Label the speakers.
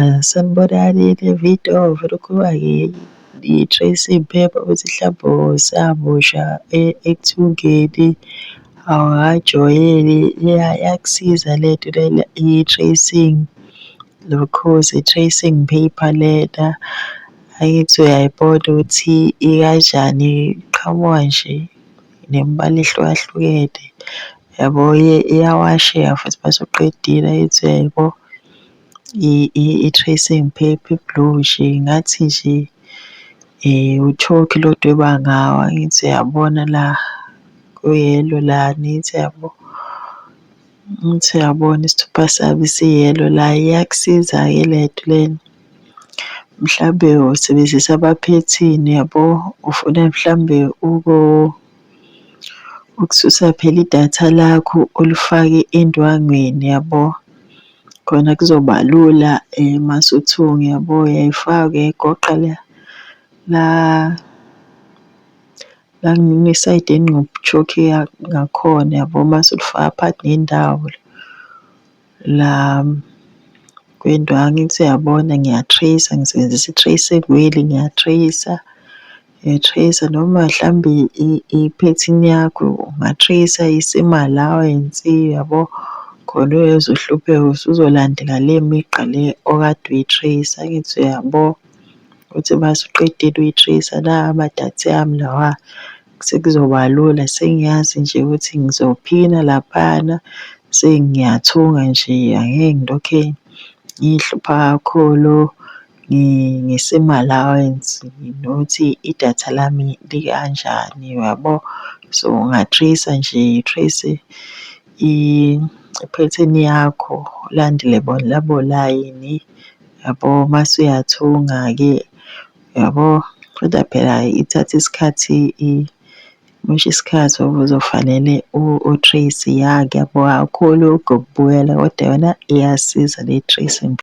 Speaker 1: Ah, sanibonani Davido vele ukhuluma ngiTracy Mphepha wesihlabho samusha ekuthungeni. Hawu hhayi jwayele iyakusiza lento lena i-tracing nokhozi i-tracing paper lena. Angithi uyayibona ukuthi ikanjani iqhamuka nje. nemibala ehlukahlukene yabo iyawasheka futhi uma usuqedile ayithi uyayibona i-tracing paper e-blue nje ngathi nje uthokhi lo odweba ngawo angithi uyabona la ku-yellow la angithi uyabo, angithi uyabona isithupha sami si-yellow la iyakusiza-ke le nto lena. Mhlawumbe usebenzisa abaphethini yabo, ufuna mhlawumbe ukususa phela idatha lakho ulifake endwangwini yabo. Khona kuzoba lula uma usuthunga yabo, uyayifaka uyayigoqa la la la ngesayidini ngakhona yabo, mase ulifaka phakathi nendawo. la kwento angithi uyabona ngiya-trace-a ngisebenzisa i-trace wheel ngiya-trace-a ngiya-trace-a noma mhlambe iphethini yakho unga-trace-a isimo allowance yabo khona uyezwa uhlupheka usuzolandela le migqa le okade uyi-trace-a angithi uyabo. Uthi mase uqedile uyi-trace-a nawa ama-data ami lawa sekuzoba lula sengiyazi nje ukuthi ngizophina laphana sengiyathunga nje angeke ngilokhe ngihlupha kakhulu ngesimo allowance nokuthi idatha lami likanjani uyabo. So unga-trace-a nje trace i-pattern yakho ulandele bona labo layini yabo mase uyathunga-ke. Yabo, kodwa phela ithatha isikhathi imosha isikhathi ngoba uzofanele o-trace-e, ya ngiyabonga kakhulu ngokubukela kodwa yona iyasiza le-tracing.